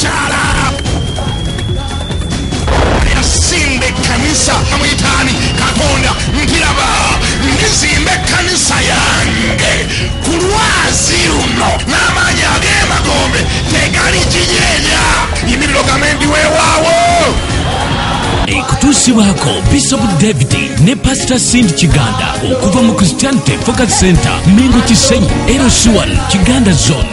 kyala yasimba ekkanisa amuyitaani katonda ntiraba ndizimba ekkanisa yange ku lwazi luno n'amaanyi ag'emagombe tegali kinyeenya yimiriro gamendi weewaawo ekutuusibwako bishop david ne pasita sind kiganda okuva mu christianity focus center mengo kisenyi erosiwan kiganda zone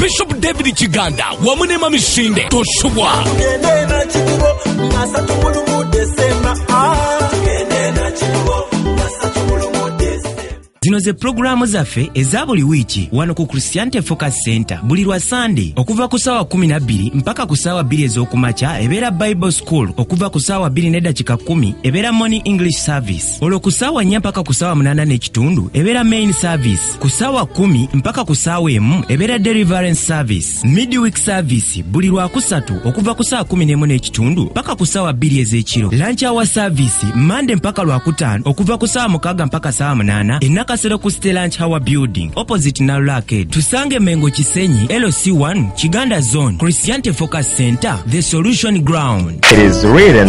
bishop david kiganda wamu ne mamisinde tosubwa zino ze pulogulaamu zaffe eza buli wiiki wano ku christianity focus center buli lwa sande okuva ku saawa 12 mpaka ku saawa 2 ez'okumakya ebeera bible school okuva ku saawa 2 nedakika 1 ebeera morning english service olwo ku ssaawa nnya mpaka ku ssaawa munaana n'ekitundu ebeera main service ku ssaawa kumi mpaka ku ssaawa emu ebeera deliverance service midweek service buli lwakusatu okuva ku ssaawa kumi n'emu n'ekitundu mpaka ku ssaawa bbiri ez'ekiro lanch hour service mande mpaka lwakutaano okuva ku ssaawa mukaaga mpaka ssaawa munaana enakasero ku ste lanch hour building opposite nalula arcade tusange mengo kisenyi lc1 kiganda zone christiante focus center the solution ground It is written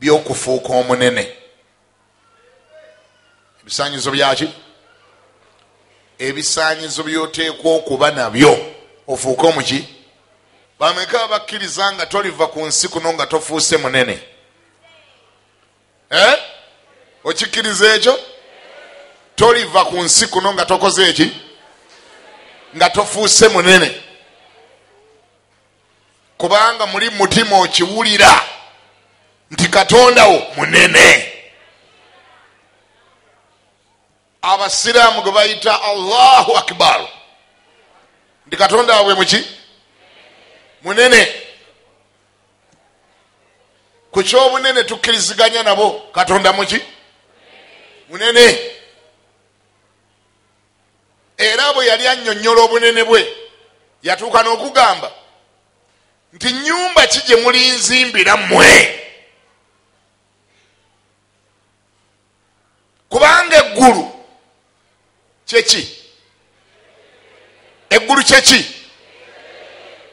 by'okufuuka omunene ebisaanyizo byaki ebisaanyizo by'oteekwa okuba nabyo ofuuke omuki bameka abakkiriza nga toliva ku nsi kuno nga tofuuse munene eh? okikkiriza ekyo toliva ku nsi kuno nga tokoze eki nga tofuuse munene kubanga muli mutima okiwulira nti katonda wo munene abasiraamu gwe bayita allahu akbar nti katonda wabwe muki munene ku kyobunene tukkiriziganya nabo katonda muki munene Era bwe yali annyonnyola obunene bwe, yatuuka n'okugamba nti, Nnyumba ki gye mulinzimbira mmwe? Kubanga eggulu kyeki? Eggulu kyeki?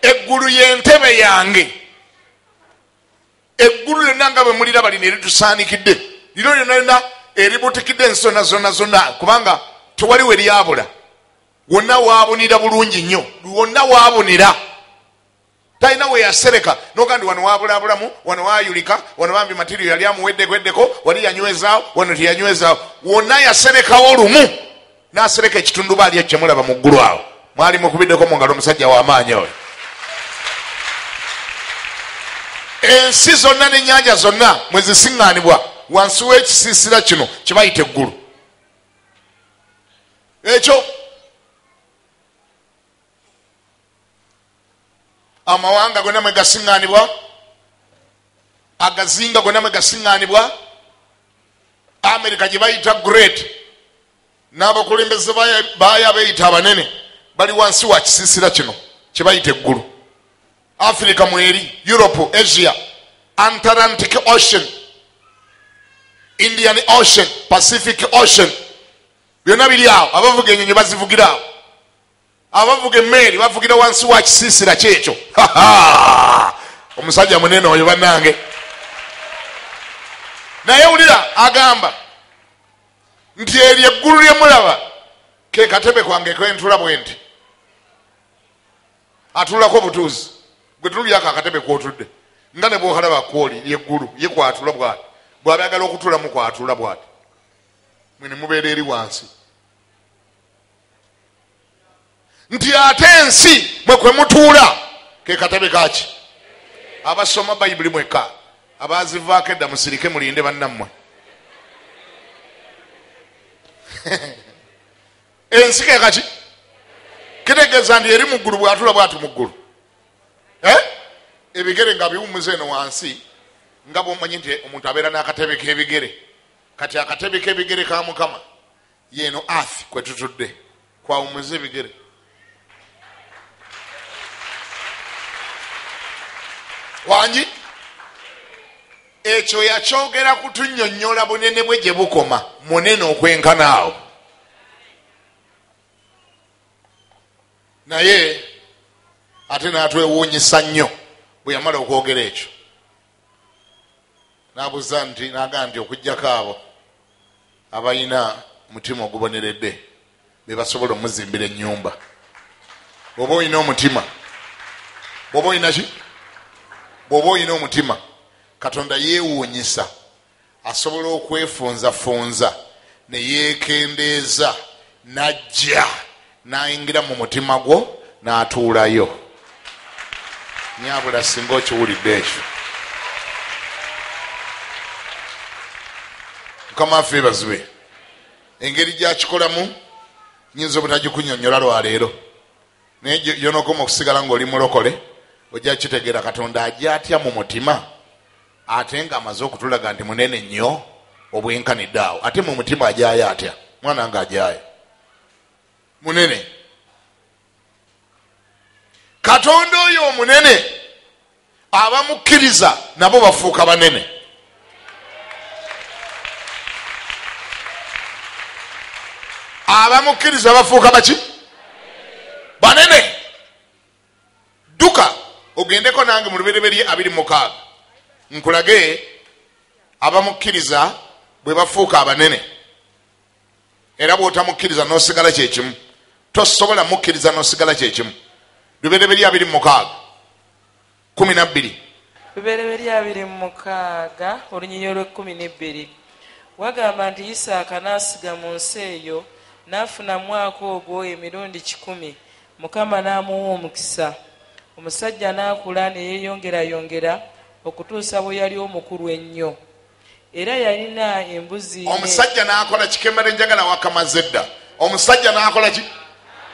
Eggulu y'entebe yange. eggulu lyonna nga bwe muliraba lino eritusaanikidde lino lyonna lyonna eributikidde ensona zonna zonna kubanga tewali we lyabula wonna waabunira bulungi nnyo wonna waabunira talina weyasereka noga ndi wano wabulabulamu wano wayulika wano bambi matirio yali amuweddegweddeko wali yanywezaawo wano teyanywezaawo wonna yaserekawo lumu nasereka ekitundubaali ekyo kyemulaba mu ggulu awo mwali mukubiddeko mu ngalo omusajja wamaanyi oyo ensi zonna nenyanja zonna mwezisiŋŋanibwa wansi w'ekisiisira kino kyebayita eggulu ekyo amawanga gonna mwe gasiŋŋaanibwa agazinga gonna mwe gasiŋŋaanibwa amerika gye bayita great n'abakulembeze baayo abeeyita abanene bali wansi wa kisiisira kino kye bayita eggulu afirika mweri europe asia antarantic ocean indian ocean pacific ocean byonna biri awo abavuga enyonyi bazivugira awo abavuga emmeeri bavugira wansi wa kisiisira kyekyo omusajja munene oyo bannange naye wulira agamba nti eryo eggulu lye mulaba ke katebe kwange kentula bwe nti atulako obutuuzi gwe tululyako akatebe kwotudde nga ne bwokalaba kwoli yeggulu ye kwatula bwati bwaba yagala okutulamu kwatula bwati mwe ne mubeera eri wansi nti ate ensi mwe kwe mutuula ke katebe kaki abasoma bayibuli mweka abazivaako edda musirike mulinde bannammwe ensi ke kaki kitegeeza nti eri mu ggulu bwatula bwati mu ggulu eh? ebigere nga biwumuza eno wansi nga bwomanyi nti omuntu abeera n'akatebe k'ebigere kati akatebe k'ebigere ka mukama Yeeno earth kwetutudde kwawumuza ebigere. Wangi ekyo yakyogera kutunyonyola bunene bwe gye bukoma munene okwenkana awo naye ate natwewuunyisa nnyo bwe yamala okwogera ekyo N'abuza nti, n'agamba nti, Okuggyako abo abalina mutima oguboneredde be basobola omuzimbira ennyumba. Bw'oba olina omutima, bw'oba olina ki? Bw'oba olina omutima, Katonda yeewuunyisa. asobola okwefunzafunza ne yeekendeeza n'ajja n'ayingira mu mutima gwo n'atuulayo nyabula singa okiwulidde ekyo mukama affe ebazibe engeri gyakikolamu nyinza obutagikunyonyola lwaleero naye yonokoma okusigala ngaoli mulokole ojja kitegeera katonda ajja atya mu mutima Ate nga amaze okutulaga nti munene nnyo obwenkanidde awo ate mu mutima ajayo atya mwana nga ajayo munene katonda oyo omunene abamukkiriza nabo bafuuka banene abamukkiriza bafuuka baki banene dduka ogendeko nange mu lubereberye abiri mukaaga nkulage abamukkiriza bwe bafuuka abanene era bwotamukkiriza nosigala kyekimu tosobola mukkiriza nosigala kyekimu lubereberye abiri mukaaga kumi nabbiri lubereberye abiri mukaaga olunyinyi olwekumi nebbiri wagamba nti isaaka n'asiga mu nsi eyo n'afuna mwaka ogwo emirundi kikumi Mukama n'amuwa omukisa, omusajja n'akula ne yeeyongerayongera okutuusa bwe yali omukulu ennyo. Era yalina embuzi ne. Omusajja n'akola ki? Kembadde njagala wakamaze dda. Omusajja n'akola ki?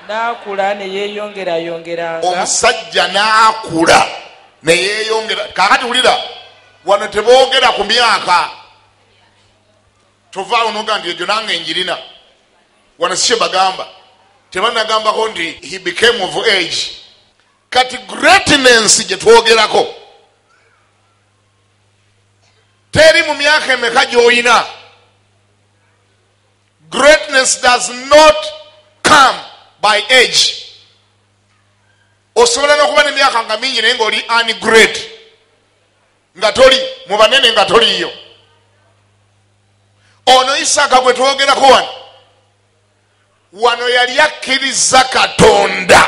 N'akula ne yeeyongerayongeranga. Omusajja n'akula ne yeeyongera. Kaakati wulira, wano teboogera ku myaka. tovaawo noga nti ejo nange njirina wano sikye bagamba tebanagambako nti he became of age kati greatness gyetwogerako teri mu myaka emeka gyoyina greatness does not come by age osobola nokuba nemyaka nga mingi naye ngaoli ani great nga toli mu banene nga toliiyo ono isaaka gwe twogerako wano wano yali akkiriza katonda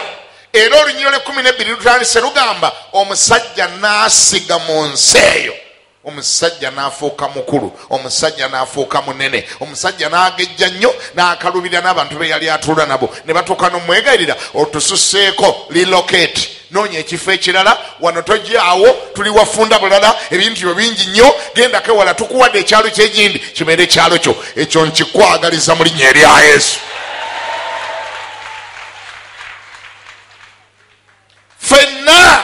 era olunyiro lwekumi nebbiri lutandise lugamba omusajja n'asiga mu nsi eyo omusajja n'afuuka mukulu omusajja n'afuuka munene omusajja n'agejja nnyo n'akalubirira n'abantu be yali atuula nabo ne batuuka n'omwegayirira otususeeko lilocate noonya ekifo ekirala wano tojaawo tuli wafunda bulala ebintu byo bingi nnyo gendako ewala tukuwadde ekyalo kyegindi kibeere ekyalo kyo ekyo nkikwagaliza mu linnya erya yesu fenna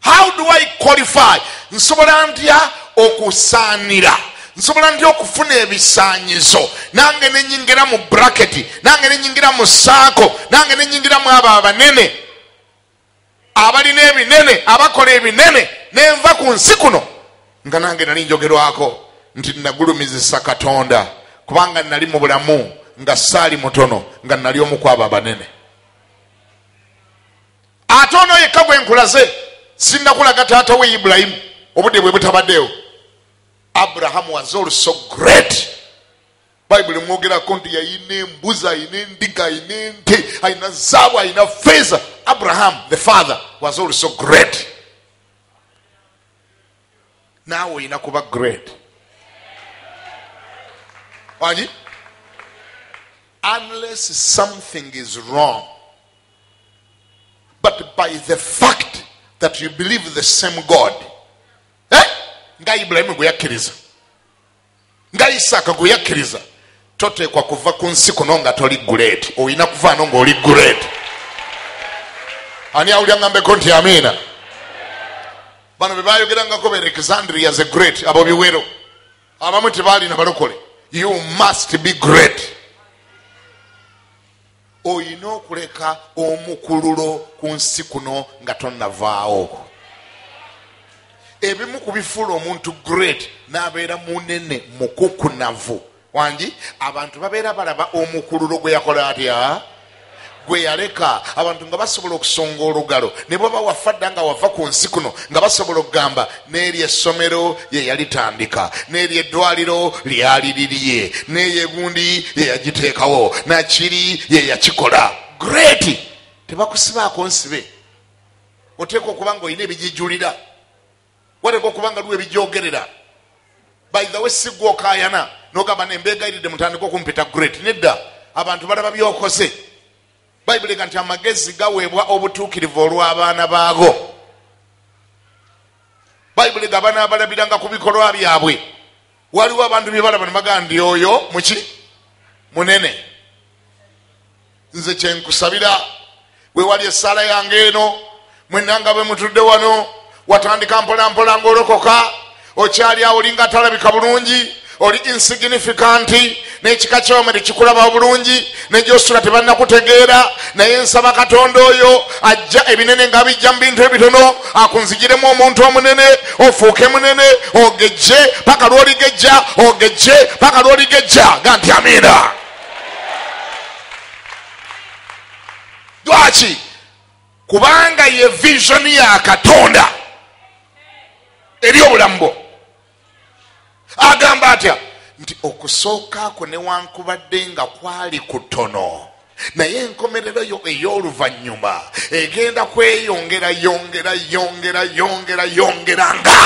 how do i qualify nsobola ntya okusaanira nsobola ntya okufuna ebisaanyizo nange nenyingira mu braketi nange nenyingira mu saako nange nenyingira mu abo abanene abalina ebinene abakola ebinene nenva ku nsi kuno nga nange nali njogerwako nti nagulumizisa katonda kubanga nali mu bulamu nga saali mutono nga nali omukwabo abanene ate ono yekka gwe nkulaze sinnakulaga taata we ibulayimu obudde bwe butabaddeewo abrahamu was also great bayibuli mwogerako nti yayina embuzi ayina endiga ayina ente ayina zaabu ayina feeza abraham the father was also great naawe olina kuba great wangi unless something is wrong but by the fact that you believe the same god eh? nga ibulayimu gwe yakkiriza nga isaaka gwe yakkiriza toteekwa kuva ku nsi kuno nga toli gureedi olina kuvaano ngaoli gureedi ani awulya ngambeko nti amiina bano bebayogerangako be alexandria the great abo biwero abamu tebaalina balokole you must be great olina okuleka omukululo ku nsi kuno nga tonavaawo ebimu ku bifuula omuntu great n'abeera munene mukukunavu wangi abantu babeera balaba omukululo gwe yakola atya gwe yaleka abantu nga basobola okusonga olugalo ne bwaba wafa dda nga wava ku nsi kuno nga basobola okugamba n'eryo essomero ye yalitandika n'eryo eddwaliro lyali lirye n'eyo egundi ye yagiteekawo nakiri ye yakikola great tebakusibaako nsibe oteeka okuba nga olina ebijijulira wateeka okuba nga liwo ebijogerera by the way sigwa okayana nogamba nembeegayiride mutandika okumpita great nedda abantu balaba byokoze bayibuli ga nti amagezi gaweebwa obutuukirivu olw'abaana baago bayibuli ga banaabalabiranga ku bikolwa byabwe waliwo abantu bye balaba ne bagaa ndi oyo muki munene nze kyenkusabira wewali essaala yange eno mwenanga bwe mutudde wano watandika mpolampola ngaolokoka okyali awo olinga atalabika bulungi oli insignificant n'ekika kyewama tekikulaba bulungi negyosula tebannakutegeera naye nsaba katonda oyo ajja ebinene nga bijja mu bintu ebitono akunzigiremu omuntu omunene ofuuke munene ogejje paka lwoligejja ogejje paka lwoligejja ga nti amiina lwaki kubanga ye vision ya katonda eri obulamu bwo agamba atya nti okusooka kwo newankubadde nga kwali kutono naye enkomerero yo ey'oluvannyuma egenda kweyongera yongera yongera yongera yongera nga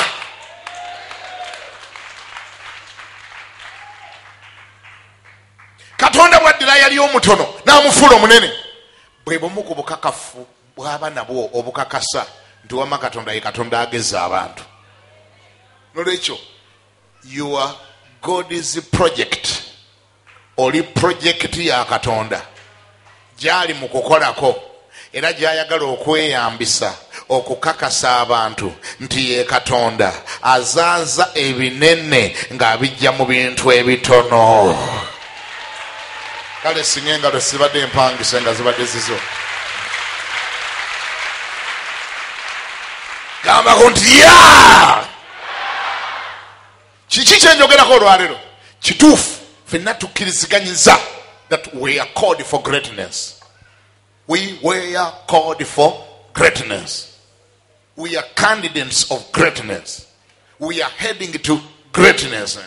katonda bwaddira yali omutono n'amufuula omunene Bwe bumu ku bukakafu bw'aba nabwo obukakasa nti wamma Katonda ye Katonda ageza abantu. N'olwekyo, you are God's project. Oli pulojekiti ya Katonda gy'ali mu kukolako era gy'ayagala okweyambisa okukakasa abantu nti ye Katonda azaaza ebinene ng'abijja mu bintu ebitono. kale singa engalo sibadde empangisa nga zibadde zizo gambako nti ya kiki kyenjogerako olwalero kituufu fenna tukkiriziganyiza that we are called for greatness we were called for greatness we are candidates of greatness we are heading to greatness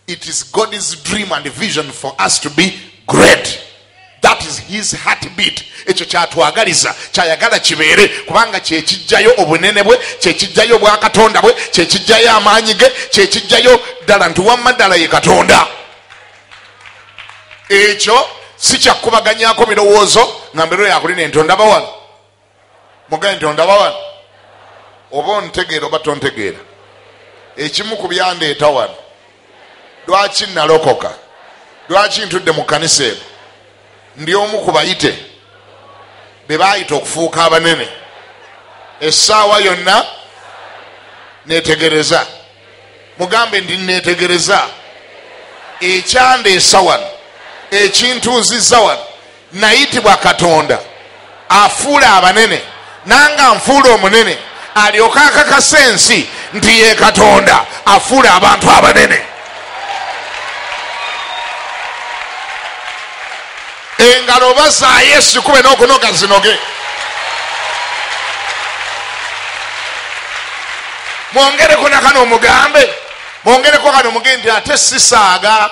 it is god's dream and vision for us to be great that is his heartbeat ekyo kyatwagaliza kyayagala kibeere kubanga kyekijjayo obunene bwe kyekijjayo obwakatonda bwe kyekijjayo amaanyi ge kyekijjayo ddala nti wamma ddala ye katonda ekyo sikyakubaganyako birowoozo nga mbeero yakulina entonda bawala mugaye nti ondaba wano oba ontegeera oba tontegeera ekimu ku byandeeta wano lwaki nalokoka lwaki ntudde mu kanisa eno ndi omu ku bayite be baayita okufuuka abanene essaawa yonna netegereza mugambe ndi netegereza ekyandeesa wano ekintuuzizza wano nayitibwa katonda afuula abanene nange anfuula omunene alyoke akakasa ensi nti ye katonda afuula abantu abanene engalo oba zaayo esikube n'okunoga zinoge mwongereko nakano omugambe mwongereko kano omugambe nti ate sisaaga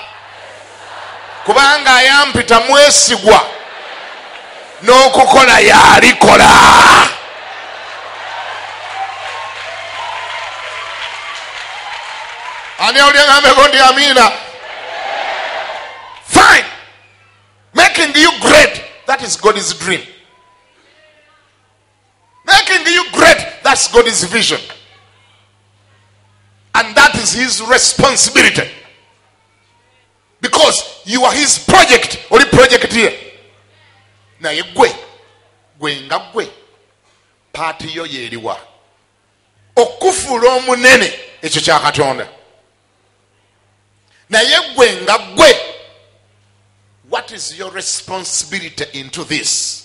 kubanga ayampita mwesigwa n'okukola yalikola ani awuliangambeko ndi amiina fine making you great that is god's dream making you great that's god's vision and that is his responsibility because you are his project oli project ye naye gwe gwe nga gwe paati yo yeeriwa okufuula omunene ekyo kya katonda naye gwe nga gwe what is your responsibility into this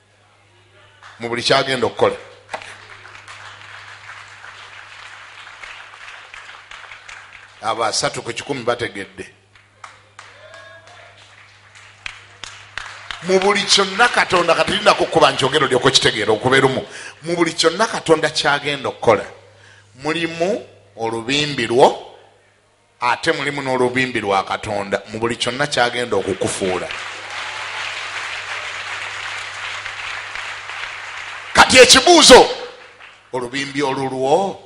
mu buli kyagenda okukola abo asatu ku kikumi bategedde mu buli kyonna katonda katirinda kukuba nkyogero lyoko kitegeera okuberumu mu buli kyonna katonda kyagenda okukola mulimu olubimbi lwo Ate mulimu n'olubimbi lwa Katonda mu buli kyonna ky'agenda okukufuula. Kati ekibuuzo, olubimbi olulwo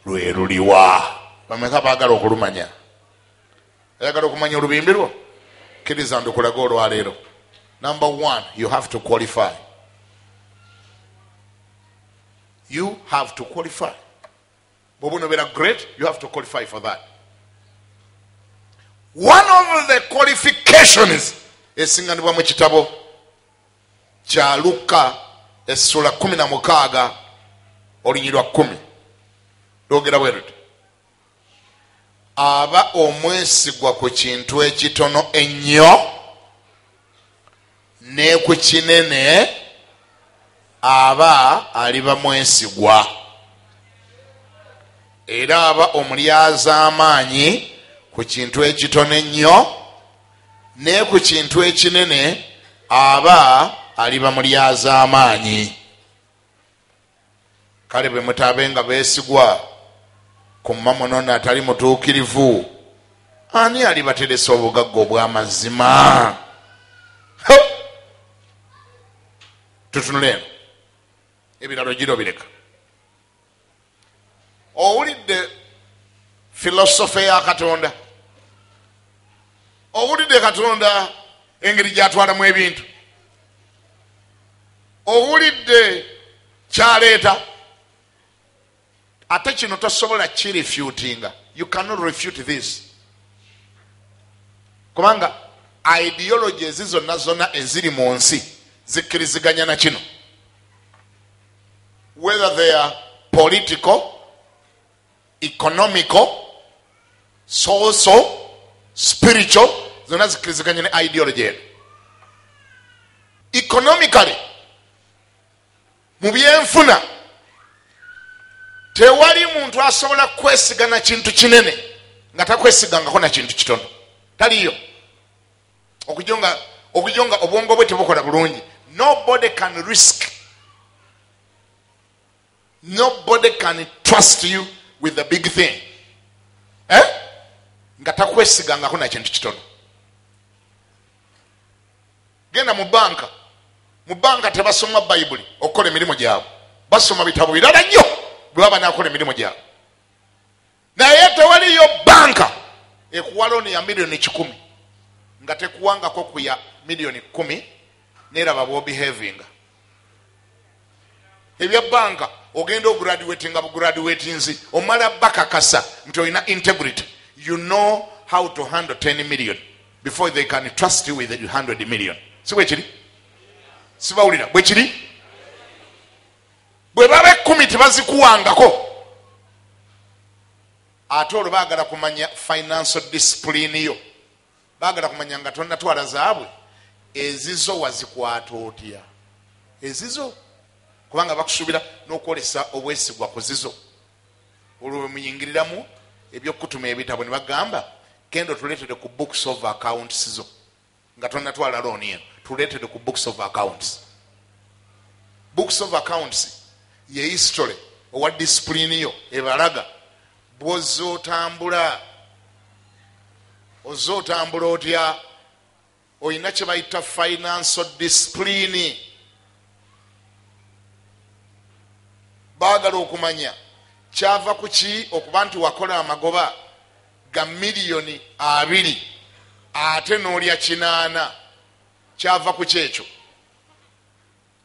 lwe luliwa? Bameka baagala okulumanya? Ayagala okumanya olubimbi lwo? Kkiriza ndukulage olwaleero. Number one, you have to qualify. You have to qualify. bwoba onobeera great you have to qualify for that one of the qualifications esinganibwa mu kitabo kya lukka essula kumi na mukaaga olunyiri lwa kumi lwogera bwe luti aba omwesigwa ku kintu ekitono ennyo ne ku kinene aba aliba mwesigwa era aba omulyazaamaanyi ku kintu ekitono ennyo ne ku kintu ekinene aba aliba mulyazaamaanyi Kale be mutaabenga beesigwa ku mmamunone atali mutuukirivu. Ani alibateresa obugagga obw'amazima? Tutunule eno, ebirala ojira obireka. Owulidde filosofe ya Katonda? Owulidde Katonda engeri gy'atwalamu ebintu? owulidde kyaleeta ate kino tosobola kirefutinga you cannot refute this kubanga ideology ezi zonna zonna eziri mu nsi zikkiriziganya na kino whether they are political economical soso spiritual zonna zikiriziganya ne ideology eno economically mu byenfuna tewali muntu asobola kwesiga na kintu kinene nga takwesigangako na kintu kitono taliyo okujo nga okujo nga obwongo bwe tebukola bulungi nobody can risk nobody can trust you with the big thing eh? nga takwesigangako nakintu kitono genda mu banka mu banka tebasoma bayibuli okukola emirimu gyabwe basoma bitabo birala nnyo bwebaba nakola emirimu gyabwe naye tewaliyo banka ekuwa looni ya miliyoni kikumi nga tekuwangako ku ya miliyoni kumi neraba bwobihavinga ebya banka ogenda ograduati nga bugraduati nzi omala bakakasa nti olina integrity you know how to handle 10 million before they can trust you with 100 million si bwekiri sibawulira bwekiri bwe baba ekkumi tebazikuwangako ate olwo baagala kumanya financial discipline yo baagala kumanya nga tonatwala zaabwe ezizo wazikwata otya ezizo kubanga bakusuubira n'okwolesa obwesigwa ku zizo olwo bwe muyingiriramu ebyokukutuma ebitabo ne bagamba kendo tuletere ku books of accounts zo nga tonatwala loan eno tuletede ku books of accounts books of accounts ye history owa discipline yo ebalaga bwoza otambula oza otambula otya olina kyebayita financial discipline bagala okumanya kyava kuki okuba nti wakola amagoba ga millioni abiri ate nolya kinaana kyava ku kyekyo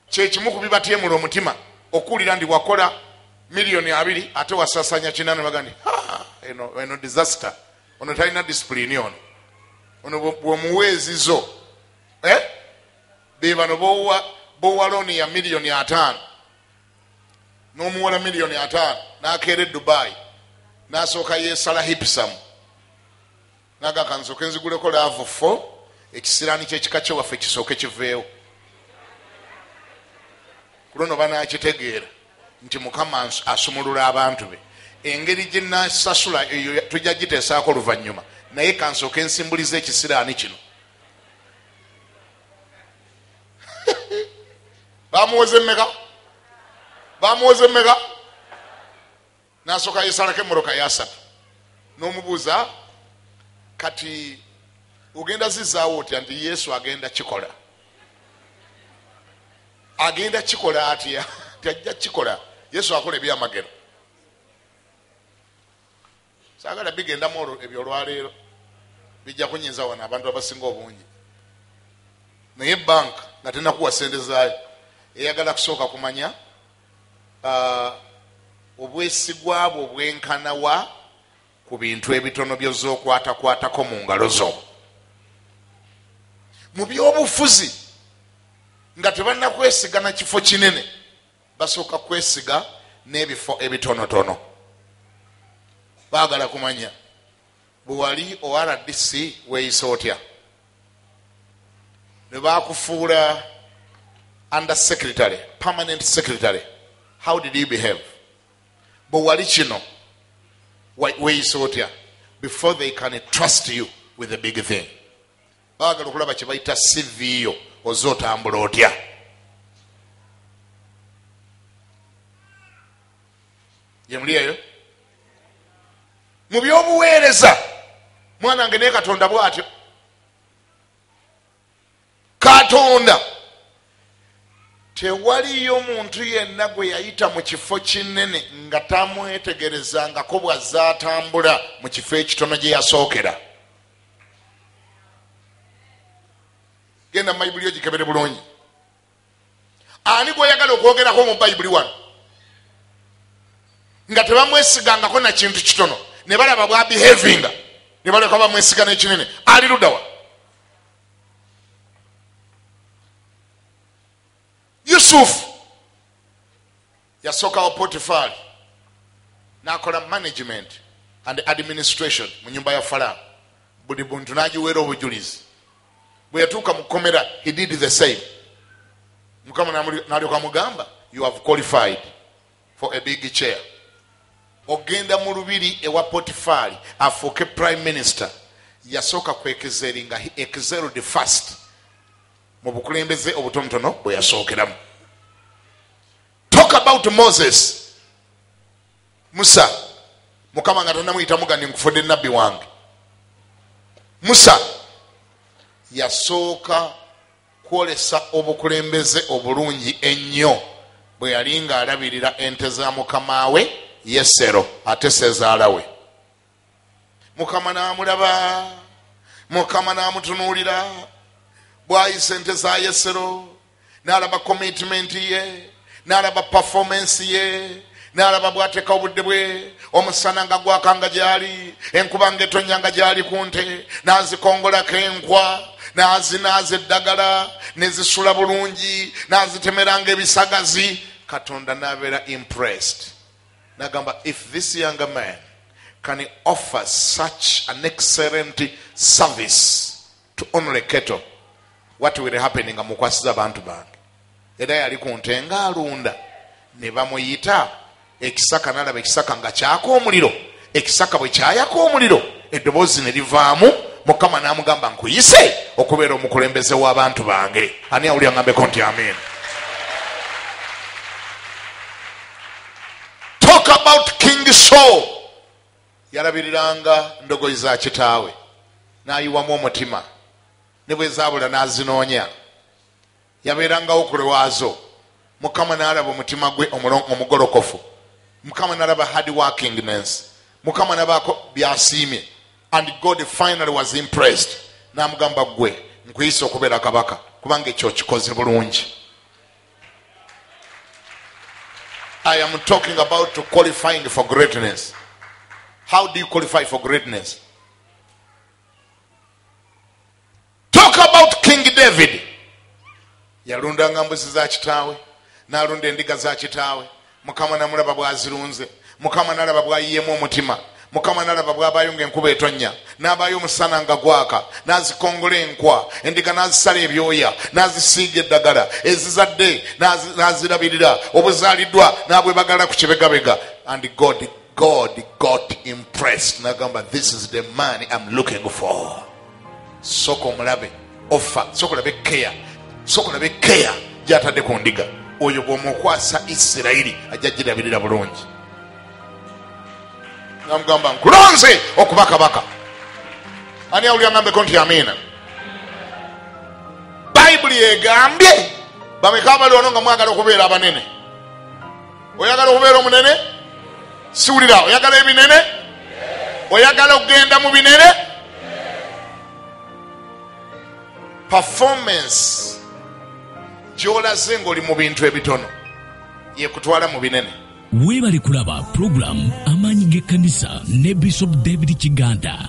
kyekimu kubibatyemula omutima okuwulira ndi wakola millioni abiri ate wasasanya kinaana baga ndi eno disaster ono talina disipulini ono ono bwomuweezizo eh? bebano bowa looni ya millioni ataano n'omuwola miliyoni ataano n'akeera e dubai n'asooka yeesala hipisamu naga kanzooke nziguleko laavu fo ekisiraani ky'ekika kye waffe kisooke kiveewo ku luno banaakitegeera nti mukama asumulula abantu be engeri gye nasasula eyo tujja giteesaako luvannyuma naye kansooke nsimbuliza ekisiraani kino bamuwoze meka bamuwoze meka nasooka yesalako emoroka yasatu nomubuuza kati ogenda zizaawo otya nti yesu agenda kikola agenda kikola atya ti ajja kikola yesu akola ebyamagero sagala bigendamu olwo ebyo olwaleero bijja kunyiza wano abantu abasinga obungi naye bank nga tenakuwa sente zaayo eyagala kusooka kumanya uh, obwesigwa bwo bwenkana wa ku bintu ebitono byozookwatakwatako mu ngalo zo mu byobufuzi nga tebanakwesiga na kifo kinene Basooka kwesiga n'ebifo ebitonotono. Baagala kumanya bwe wali ORDC weeyisa otya? Ne baakufuula under secretary, permanent secretary, how did you behave? Bwe wali kino weeyisa otya? Before they can trust you with a big thing. bagala okulaba kyebayita cv yo oze otambula otya yemuli eyo mu byobuweereza mwana nge naye katonda bwatyo katonda tewaliyo muntu yenna gwe yayita mu kifo kinene nga tamwetegerezangako bwazze atambula mu kifo ekitono gye yasookera genda mubayibuli ogikebere bulungi ani gweyagala okwogerako mu bayibuli wano nga tebamwesigangako nakintu kitono ne balaba bwa behavinga ne baleka bamwesiga nekinene ali ludawa yusufu Yasokawo Potifaali nakola management and administration mu nyumba ya Falaawo, buli buntu nagiweera obujulizi. Bwe yatuuka mu kkomera, he did the same. Mukama nalyoka amugamba, you have qualified for a big chair. Ogenda mu lubiri ewa Potifaali afuuke prime minister. Yasooka kwekezeeringa, he excelled first. mu bukulembeze obutonotono bwe yasookeramu talk about moses musa mukama nga tanamuyitamu gandi nkufudde nabbi wange musa yasooka kwolesa obukulembeze obulungi ennyo bwe yali ng'alabirira ente za mukama we yesero ate sezaala we mukama n'amulaba mukama n'amutunuulira bwayisa ente za yesero n'alaba komitimenti ye n'alaba pafomensi ye n'alaba bw'ateeka obudde bwe omusana nga gwaka nga gyali enkuba nga etonya nga gyali ku nte n'azikongolako enkwa n'azinaaza eddagala ne zisula bulungi n'azitemeranga ebisagazi katonda n'abeera impressed Nagamba if this younger man can offer such an excellent service to only keto what will happen nga mukwasiza abantu bange era yali ku nte nga alunda ne bamuyita ekisaka nalaba ekisaka nga kyaka omuliro ekisaka bwe kyayaka omuliro eddoboozi ne livaamu mukama n'amugamba nkuyise okubeera omukulembeze w'abantu bange ani awuli angambeko nti amin talk about king saul yalabiriranga ndogoyi za kitaawe n'ayiwamu omutima ne bwe zaabula n'azinoonya Yabeerangawo ku lwazo. Mukama nalaba omutima gwe omugolokofu. Mukama nalaba hard working ness. Mukama nabaako byasiimye and God finally was impressed namugamba gwe nkuyise okubeera kabaka kubanga ekyo okikoze bulungi. I am talking about to qualifying for greatness. How do you qualify for greatness? talk about king david yalundanga mbuzi za kitaawe nalunda endiga za kitaawe mukama namulaba bwazirunze mukama nalaba bwayiyemu omutima mukama nalaba bwabayo nga enkuba etonya nabayo omusana nga gwaka nazikongola enkwa endiga nazisala ebyoya nazisiiga eddagala ezizadde nazirabirira obuzaliddwa nabwe bagala ku kibegabega and god god got impressed nagamba this is the man im looking for soka omulabe ofa soka olabe keya soka olabe keya gyatadde ku ndiga oyo bwomukwasa isirairi ajja girabirira bulungi namugamba nkulonze okuba kabaka ani awulira ngambeko nti amiina bayibuli egambye bameka abali wano nga mwagala okubeera abanene oyagala okubeera omunene siwulira oyagala ebinene oyagala okugenda mu binene performance gyolaze ngaoli mu bintu ebitono yekutwala mu binene weebale kulaba pulogulaamu amaanyi g'ekkanisa ne bishop david kiganda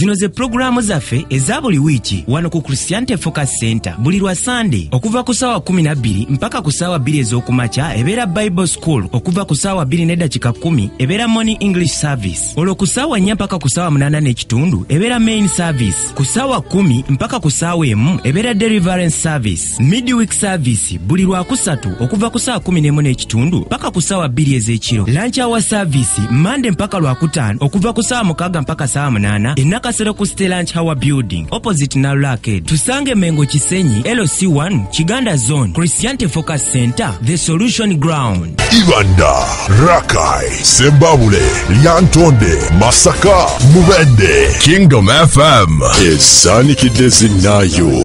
zino ze pulogulaamu zaffe eza buli wiiki wano ku christianity focus center buli lwa sande okuva ku saawa 12 mpaka ku saawa 2 ez'okumakya ebeera bible school okuva ku saawa 2 n'eddakika 1 ebeera morning english service olwo ku saawa 4 mpaka ku saawa 8 n'ekitundu ebeera main service ku saawa 1 mpaka ku saawa emu ebeera deliverance service midweek service buli lwakusatu okuva ku saa 11 n'ekitundu paka ku saawa bbiri ez'ekiro lanchi awa service mande mpaka lwakutaano okuva ku saawa mukaaga mpaka saawa munaana enakasero ku ste lanch hour building opposite nalulaked tusange mengo kisenyi lc1 kiganda zone christiante focus center the solution ground ibanda rakai sembabule lyantonde masaka mubende kingdom fm esanikidde zinnayo